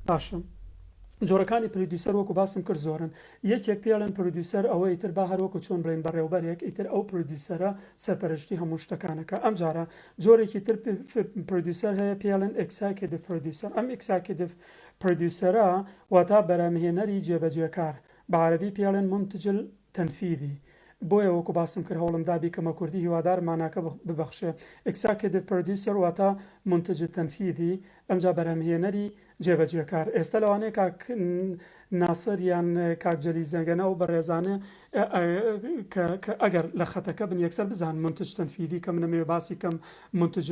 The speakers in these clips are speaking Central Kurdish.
باشم جۆرەکانی پرودیوسەر وەکو باسم کرد زۆرن یەکێک پێڵێن پرودیوسەر ئەوەی تر با هەروەکو چۆن بڵێن بەڕێوبەرێک ئیتر ئەو پرودیوسەرە سەرپەرشتی هەموو شتەکانەکە ئەم جارە جۆرێکی تر پرۆدیوسەر هەیە پێی ئەڵێن ئێکساکێدڤ پرۆدیوسەر، ئەم ئێکساکێدڤ پرۆدیوسەرە واتە بەرهەمهێنەری جێبەجێکار، بە عەرەبی پێی ئەڵێن مونتج التنفیذی، بۆیە وەکو باسم کرد هەوڵم دا بیکەمە کوردی هیوادارم ماناکە ببەخشێ، ئێکساکێدڤ پرۆدیوسەر واتە مونتج التنفیذی ئەمجا بەرهەمهێنەری جێبەجێکار ئێستا لەوانەیە کاک ناسر یان کاک جەلی زەنگەنە ئەو بەڕێزانە کە ئەگەر لە خەتەکە بن یەکسەر بزان منتج تەنفیدی کە منەمەوێ باسی کەم منتج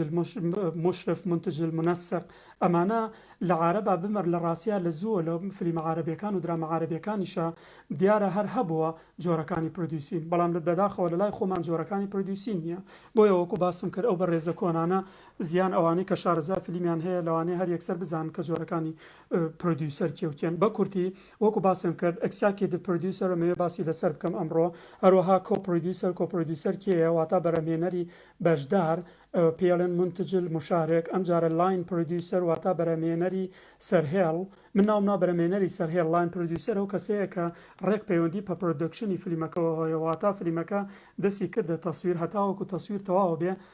مشرف منتج المنسق ئەمانە لە عارەبا بمەر لە ڕاستیا لە زووە لە فلیمە عارەبیەکان و درامە عارەبیەکانیشا دیارە هەر هەبووە جۆرەکانی پرۆدیوسین بەڵام لە بەداخەوە لە لای خۆمان جۆرەکانی پرۆدیوسین نییە بۆیە وەکو باسم کرد ئەو بەڕێزە کۆنانە زیان ئەوانەی کە شارەزا فلیمیان هەیە لەوانەیە هەر یەکسەر بزانن کە جۆرەکانی پرۆدیوسەر کێ و کێن بە کورتی وەکو باسم کرد ئەکسیاکیدڤ پرۆدیوسەر ئەمەوێ باسی لەسەر بکەم ئەمڕۆ هەروەها کۆ پرۆدیوسەر کۆ پرۆدیوسەر کێیە واتە بەرهەمهێنەری بەشدار پێڵێن منتج المشارک ئەم جارە لاین پرۆدیوسەر واتە بەرهەمهێنەری سەرهێڵ من ناوم نا بەرهەمهێنەری سەرهێڵ لاین پرۆدیوسەر ئەو کەسەیە کە ڕێک پەیوەندی پە پرۆدەکشنی فلیمەکەوە هەیە واتە فلیمەکە دەستی کردە تەسویر هەتاوەکو تەسویر تەواو بێ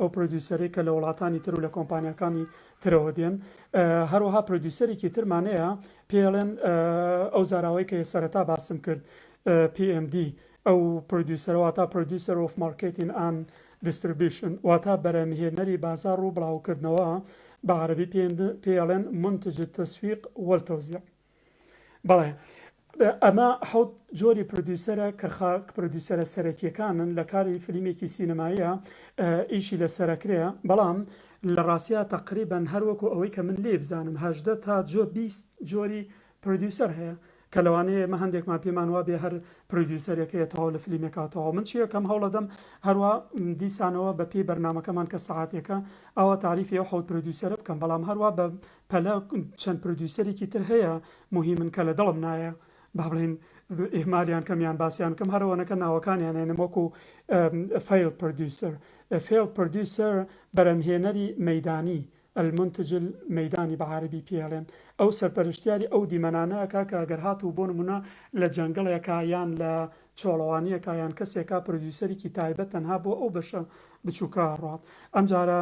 ئەو پرۆدیوسەرەی کە لە وڵاتانی تر و لە کۆمپانیاکانی ترەوە دێن. هەروەها پرۆدیوسەرێکی ترمان هەیە پێی ئەڵێن ئەو زاراوەی کە سەرەتا باسم کرد PMD ئەو پرۆدیوسەرە واتا Producer of Marketing and Distribution واتا بەرهەمهێنەری بازاڕ و بڵاوکردنەوە بە عەرەبی پێی ئەڵێن منتج التسویق والتوزیع. بەڵێ ئەمە حەوت جۆری پرۆدیوسەرە کە خا پرۆدیوسەرە سەرەکیەکانن لە کاری فلیمێکی سینەماییە ئیشی لەسەرەکرێ بەڵام لە ڕاستیا تەقریبەن هەروەکو ئەوەی کە من لێ بزانم هەژدە تا جۆ بیست جۆری پرۆدیوسەر هەیە کە لەوانەیە ئێمە هەندێکمان پێمان وابێ هەر پرۆدیوسەرەکەیە تەواو لە فلیمێکا تەواو من چیە کەم هەوڵەدەم هەروە دیسانەوە بە پێی بەرنمەکەمان کە سەعاتێکە ئەوە تاریفی ئەو حەوت پرۆدیوسەرە بکەم بەڵام هەروە بە پەلە چەند پردوسەرێکی تر هەیە موهیمن کە لە دڵم نایە بابڵێین ئیهمالیان کەم یان باسیان کەم هەر ئەوەنە کە ناوەکانیان هێنم وەکو فەیڵ پردوسەر فێڵ پردوسەر بەرەمهێنەری مەیدانی المنتج المەیدانی بە عارەبی پێی ئەڵێن ئەو سەرپەرشتیاری ئەو دیمەنانە ئەکا کە گەر هاتوو بۆ نموونە لە جەنگڵێکا یان لە چۆڵەوانیەکە یان کەسێکا پردوسەرێکی تایبەت تەنها بۆ ئەو بەشە بچووکە ڕات ئەمجارە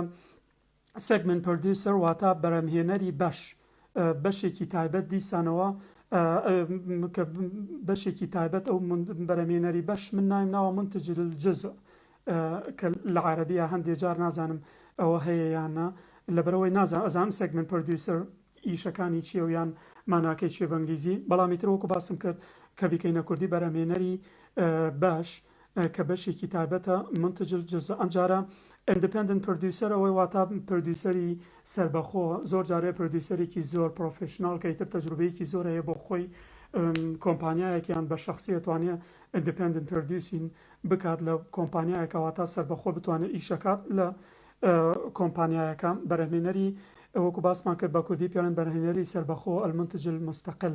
Segment Producer واتا بەرهەمهێنەری بەش بەشێکی تایبەت دیسانەوە کە بەشێکی تایبەت ئەو بەرەمێنەری بەش من نایم ناوە منتج الجزء کە لە عربیە هەندێ جار نازانم ئەوە هەیە یانە لەبەرەوەی نازان ئەزان سێگمنت پرۆدیوسەر ئیشەکانی چیە و یان ماناکەی چێ بەنگلیزی بەڵامی ترۆکو باسم کرد کە بیکەینە کوردی بەرەمێنەری بەش کە بەشێکی تایبەتە، منتج الجزء، ئەمجارە Independent Producer ەوەی واتا پرۆدیوسەری سەربەخۆ، زۆر جار هەیە پرۆدیوسەرێکی زۆر پرۆفیشناڵ کە ئیتر تەجروبەیەکی زۆر هەیە بۆ خۆی کۆمپانیایەک یان بە شەخسی ئەتوانێ Independent Producing بکات لە کۆمپانیایەکە واتا سەربەخۆ بتوانێ ئیشەکات لە کۆمپانیایەکە بەرهەمێنەری وەکو باسمان کرد بە کوردی پێڵێن بەرهەمێنەری سەربەخۆ المنتج المستقل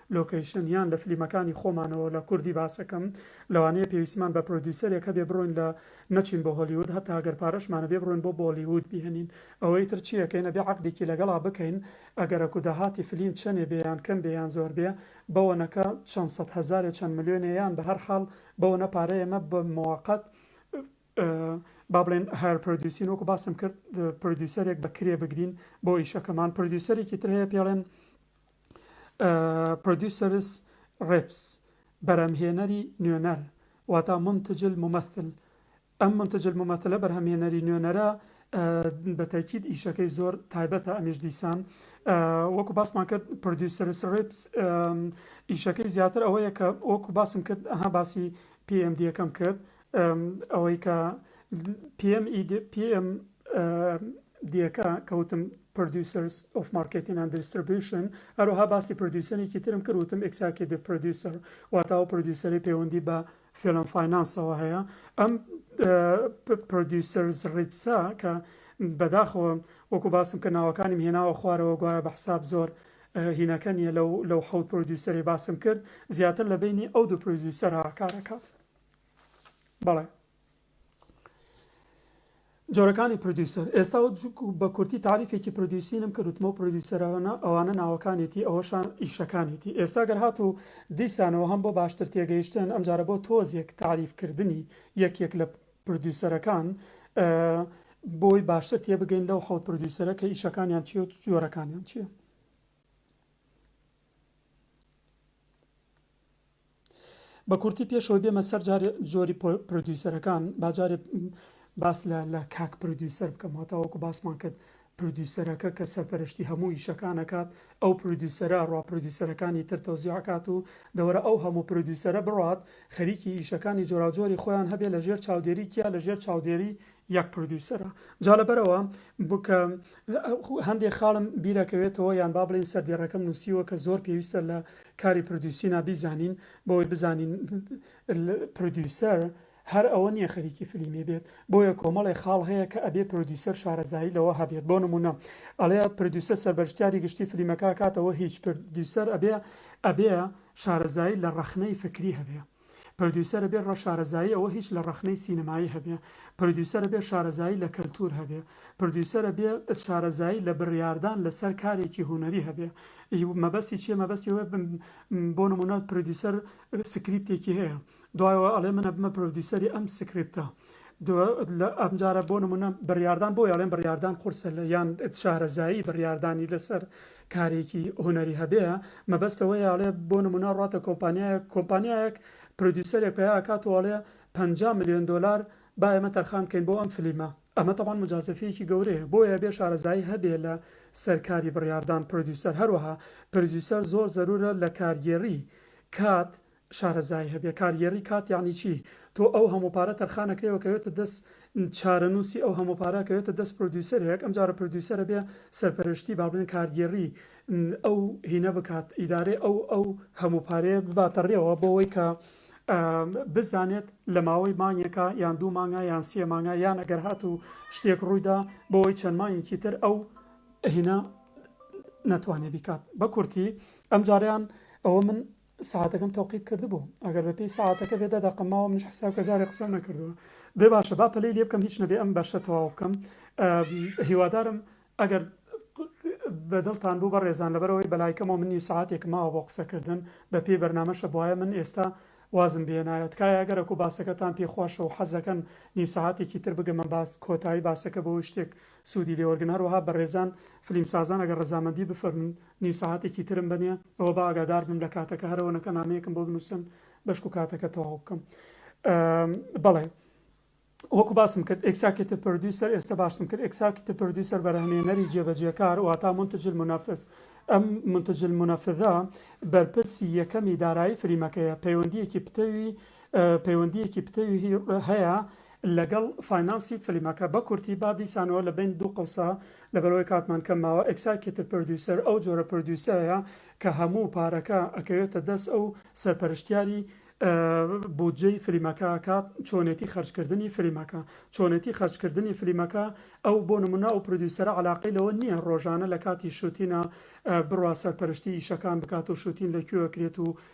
لۆکەیشن یان لە فلیمەکانی خۆمانەوە لە کوردی باسەکەم لەوانەیە پێویستیمان بە پرۆدیوسەرێک هەبێ بڕۆین لە نەچین بۆ هۆلیوود هەتا ئەگەر پارەشمانەبێ بڕۆین بۆ بۆلیوود بیهنین ئەوەی تر چی ئەکەین ئەبێ عەقدێکی لەگەڵا بکەین ئەگەرەک و داهاتی فلیم چەنێ بێ یان کەم بێ یان زۆر بێ بەوەنەکە چەند سەد هەزارێ چەند ملیۆنێ یان بە هەر حاڵ بەوەنە پارە ئێمە بە مۆقەت با بڵێن هایر پرۆدیوسین وەکو باسم کرد پرۆدیوسەرێک بە کرێ بگرین بۆ ئیشەکەمان پرۆدیوسەرێکی تر هەیە پێڵێن Producers Reps بەرهەمهێنەری نوێنەر واتا منتج الممثل ئەم منتج الممثلە بەرهەمهێنەری نوێنەرە بە تەئکید ئیشەکەی زۆر تایبەتە ئەمیش دیسان وەکو باسمان کرد Producers Reps ئیشەکەی زیاتر ئەوەیە کە وەکو باسم کرد ئەها باسی PMD یەکەم کرد ئەوەی کە PMDA-کە کە وتم Producers of Marketing and Distribution، هەروەها باسی پرۆدیوسەرێکی ترم کرد وتم Executive Producer، واتە ئەو پرۆدیوسەرەی پەیوەندی بە Film and Finance ەوە هەیە. ئەم Producers Reps ە کە بەداخەوە وەکو باسم کرد ناوەکانیم هێناوە خوارەوە گوایە بە حساب زۆر هینەکە نییە لەو حەوت پرۆدیوسەرەی باسم کرد زیاتر لە بەینی ئەو دوو پرۆدیوسەرە کار ئەکات. بەڵێ جۆرەکانی پرۆدیوسەر ئێستا بە کورتی تاریفێکی پرۆدیوسینم کرد وتمەوە پرۆدیوسەرانە ئەوانە ناوەکانێتی ئەوەشان ئیشەکانێتی ئێستا گەر هات و دیسانەوە هەم بۆ باشتر تێگەیشتن ئەمجارە بۆ تۆزێک تاریفکردنی یەکێک لە پرۆدیوسەرەکان بۆی باشتر تێبگەین لەو حەوت پرۆدیوسەرە کە ئیشەکانیان چی و جۆرەکانیان چییە بە کورتی پێش ئەوەی بێمە سەر جارێ جۆری پرۆدیوسەرەکان با جارێ باس لە لە کاک پرۆدیوسەر بکەم واتا وەکو باسمان کرد پرۆدیوسەرەکە کە سەرپەرشتی هەموو ئیشەکان ئەکات ئەو پرۆدیوسەرە ڕا پرۆدیوسەرەکانی تر تەوزیع ئەکات و دەوەرە ئەو هەموو پرۆدیوسەرە بڕات خەریکی ئیشەکانی جۆراوجۆری خۆیان هەبێ لەژێر چاودێری کیا لەژێر چاودێری یەک پردوسەرە جا لەبەرئەوە بوو کە هەندێ خاڵم بیرەکەوێتەوە یان با بڵێن سەردێڕەکەم نووسیوە کە زۆر پێویستە لە کاری پردوسینا بیزانین بەوەی بزانین پردوسەر هەر ئەوە نییە خەریکی فلیمی بێت بۆیە کۆمەڵێ خاڵ هەیە کە ئەبێ پرۆدیوسەر شارەزایی لەوە هەبێت بۆ نمونە ئەڵێ پردوسە سەربەرشتیاری گشتی فلیمەکە کاتەوە هیچ پردوسەر ئەبێ ئەبێ شارەزایی لە ڕەخنەی فکری هەبێ پردیوسەرە بێ ڕە شارەزایی ئەوە هیچ لە ڕەخنەی سینەمایی هەبێ پردیوسەرە بێ شارەزایی لە کەلتوور هەبێ پردیوسەرە بێ شارەزایی لە بریاردان لە سەر کارێکی هونەری هەبێ ی مەبەستی چیە مەبەستی ئەوە بم بۆ نمونە پردیوسەر سکریپتێکی هەیە دوایەوە ئەڵێ منە بمە پرۆدیوسەری ئەم سکریپتە ئەمجارە بۆ نمونە بڕاردان بۆ یاڵێن بڕاردان قورسە لە یان شارەزایی بڕاردانی لەسەر کارێکی هونەری هەبێ مەبەست ئەوەیە ئەڵێ بۆ نمونە ڕاتە کۆمپانیایەک کۆمپانیایەک پرۆدیوسەرێک پەیا ئەکات و ئەڵێ پەنجا ملیۆن دۆلار با ئێمە تەرخان بکەین بۆ ئەم فلیمە ئەمە تەبعەن موجازەفیەکی گەورەیە بۆیە ئەبێ شارەزایی هەبێ لە سەر کاری بڕیاردان پرۆدیوسەر هەروەها پرۆدیوسەر زۆر زەرورە لە کارگێڕی کات شارەزایی هەبێ کار یێڕی کات یەعنی چی تۆ ئەو هەموو پارە تەرخان ئەکرێ و کەوێتە دەس چارەنووسی ئەو هەموو پارە کەوێتە دەس پرۆدیوسەرێک ئەم جارە پرۆدیوسەرە بێ سەرپەرەشتی با بڵێن کارگێڕی ئەو هینە بکات ئیدارەی ئەو ئەو هەموو پارەیە بباتە ڕێوە بۆ وەی کە بزانێت لە ماوەی مانگێکا یان دوو مانگا یان سێ مانگا یان ئەگەر هات و شتێک ڕووی دا بۆ وەی چەند مانگێکی تر ئەو هینە نەتوانێ بیکات بە کورتی ئەم جاریان ئەوە من سەعاتەکەم تەوقیت کردبوو ئەگەر بە پێی سەعاتەکە بێ دە دەقەم ماوە منیش حساب کە جارێ قسەم نەکردووە بێ باشە با پەلەی لێ بکەم هیچ نەبێ ئەم بەشە تەواو بکەم هیوادارم ئەگەر بە دڵتان بوو بە ڕێزان لەبەرەوەی بەلایکەمەوە من نیو سەعاتێکم ماوە بۆ قسەکردن بە پێی بەرنامەشە بواە من ئێستا وازم بێنایە تکایە گەرەک و باسەکەتان پێ خۆشە و حەزەکەن نیو سەعاتێکی تر بگەمە باس کۆتایی باسەکە بۆ شتێک سوودی لێوەرگن هەروەها بەڕێزان فلیمسازان ئەگەر ڕەزامەندی بفەرموون نیو سەعاتێکی ترم بەنێ ئەوە با ئاگادار بم لە کاتەکە هەرەوە نەکە نامەیەکم بۆ بنووسن بەشک و کاتەکە تەواو بکەم بەڵێ وەکو باسم کرد ئکساکیتە پردوسەر ئێستا باشم کرد ئکساکیتە پردوسەر بەرهمێنەری جێبەجێکار واتا منتجل منافس ئەم منتجل منافذە بەرپرسی یەکەمی دارایی فریمەکەیە پەیوەندیەکی پتەوی پەیوەندیەکی پتەوی هەیە لەگەڵ فاینانسی فلیمەکە. بە کورتی با دیسانەوە لە بەین دوو قەوسا لەبەرئەوەی کاتمان کەم ماوە ئێکساکێتڤ پردیوسەر ئەو جۆرە پردیوسەرەیە کە هەموو پارەکە ئەکەوێتە دەست ئەو سەرپەرشتیاری بودجەی فلیمەکە ئەکات چۆنێتی خەرج کردنی فلیمەکە چۆنێتی خەرج کردنی فلیمەکە ئەو بۆ نمونە ئەو پردیوسەرە عەلاقەی لەوە نیە ڕۆژانە لە کاتی شوتینە بڕوا سەرپەرشتی ئیشەکان بکات و شوتین لە کوێ ئەکرێت و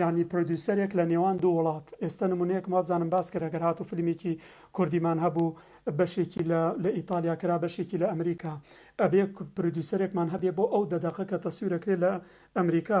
یانی پرۆدیوسەرێک لە نێوان دوو وڵات ئێستە نمونەیەکم وابزانم باس کرد ئەگەر هاتوو فلمیکی کوردیمان هەبوو بەشێکی لە لە ئیتالیا کرا بەشێکی لە ئەمریکا ئەبێ پرۆدیوسەرێکمان هەبێ بۆ ئەو دە دەقە کە تەسویر ئەکرێ لە ئەمریکا